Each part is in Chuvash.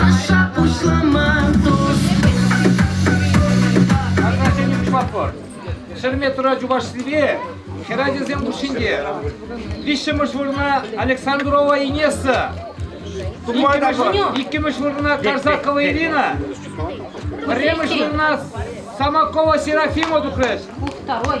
Каҫа пуҫламан тус. Ограждение пуҫлатпӑр. Ҫӗрме тура Чувашскипе хӗрачасем хушшинче. Виҫҫӗмӗш вырӑна Александрова Инесса. Тупаймӑш иккӗмӗш вырӑна Карсакова Ирина. Пӗрремӗш вырӑна Самокова Серафима тухрӗҫ. Второй.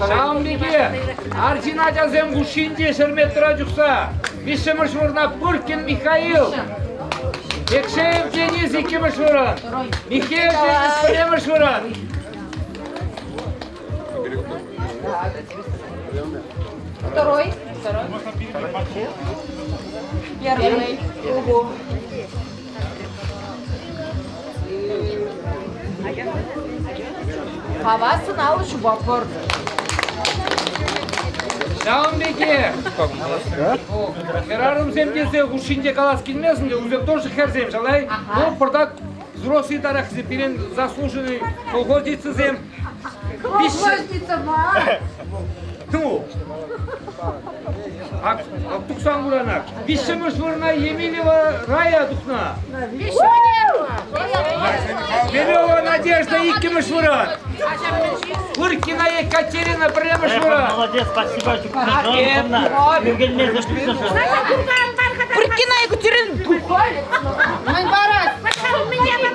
Ҫавӑн пекех арҫын ачасем хушшинче шерметра чухса виҫҫӗмӗш вырӑна Пуркин Михаил, Пекшеев Денис иккӗмӗш вырӑн, Михеев Денис пӗрремӗш вырӑн. Второй. Второй. Первый. Угу. Хавассӑн алӑ ҫупа пӑртӑ. Ҫавӑн пекех. Хӗрарӑмсем тесе хушшинче калас килмесін те, у всех тоже хӗрсем, шалай. Ну, пӑртак взрослый тарах пирен заслуженный колхозницӑсем Ну, ак тухсан курана. Виҫҫӗмӗш вырна Емелева рая тухна. Емелева Надежда иккӗмӗш выран. Куркина Екатерина пӗрремӗш выран. Молодец, спасибо. Ӳкӗнмесӗр пысӑшӑр. Куркина Екатерина тухай. Мань барат. Пошла, меня там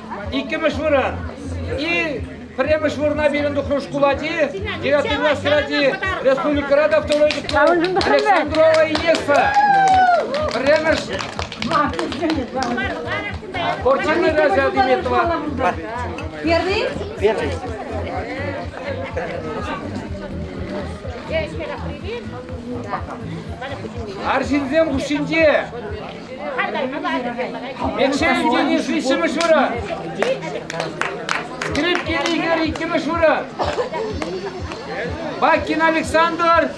Иккӗмӗш вырӑн. И пӗрремӗш вырӑна пирӗн тухрӑм шкулати, девятый класс хӗрачи, республикӑра та второй диплом Александрова Инеспа. Пӗрремӗш Кортина Газа Диметова. Первый? Первый. Арҫынсем хушшинче Экшел Дени шишемеш вара. Скрипки Игорь иккӗмеш вара. Бакин Александр.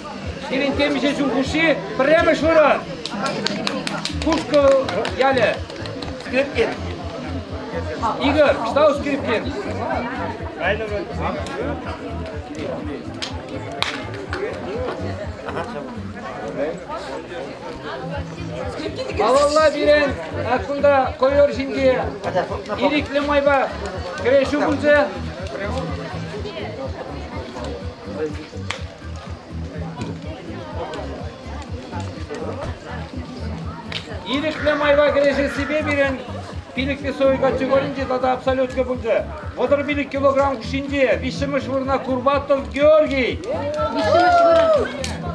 Сирен темише ҫул хуши пӗрремеш вара. Кушкӑл ялӗ. Скрипкин. Игорь, штау Скрипкин. Ага, Малалла пирӗн кунта ковер ҫинче ирӗклӗ майпа кӗрешӳ пулчӗ. Ирӗклӗ майпа кӗрешессипе пирӗн пилӗклӗ сою категоринче тата абсолютка пулчӗ. Вӑтӑр пилӗк килограмм ҫинче виҫҫӗмӗш вырӑна Курбатов Георгий. Виҫҫӗмӗш вырӑн.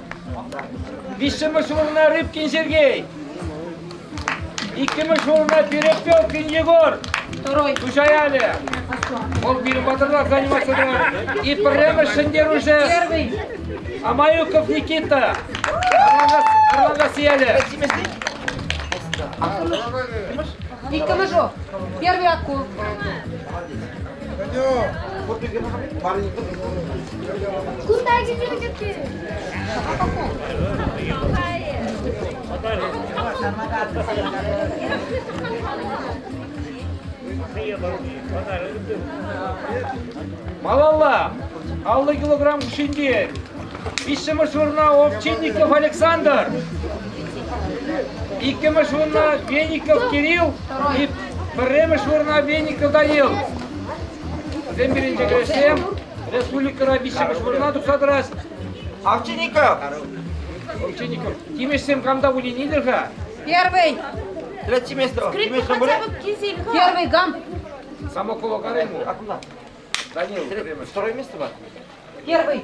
Виҫҫӗмӗш вырӑна Рыбкин Сергей. Иккӗмӗш вырӑна Перепелкин Егор. Второй. Туҫаяле. Вӑл пирӗн патӑрта заниматься тӑвать. И пӗрремӗш Шендеруше. Первый. Амаюков Никита. Арлангас Сияле. Иккӗмӗш Первый акул. Кунта кӗтӳ-кӗтӳ. Малалла аллӑ килограмм ҫинчен виҫҫӗмӗш вырӑна Овчинников Александр, иккӗмӗш вырӑна Веников Кирилл и Пӗрремӗш вырӑна Веникӑлта ил. Вӗсем пирӗнче кӗрешсем республикӑра виҫҫӗмӗш вырӑна тухса тӑраҫ. Овчинников! Овчинников, тимешсем камта выленитӗр-ха? Первый! Третье место. Тимеш Шамбуре? Первый гамп! Самокова карай ему. А куда? Данил, пӗрремӗш. Второе место бар? Первый!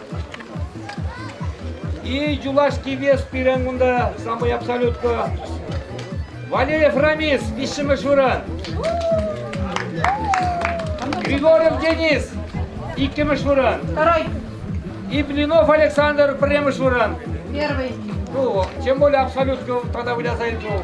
И юлашки вес пирӗн кунта самый абсолютка. Валеев Рамис, виҫҫӗмӗш вырӑн. Григорьев Денис, иккӗмӗш вырӑн. Второй. И Блинов Александр, пӗрремӗш вырӑн. Первый. Ну, тем более абсолютка тогда вылясает гол.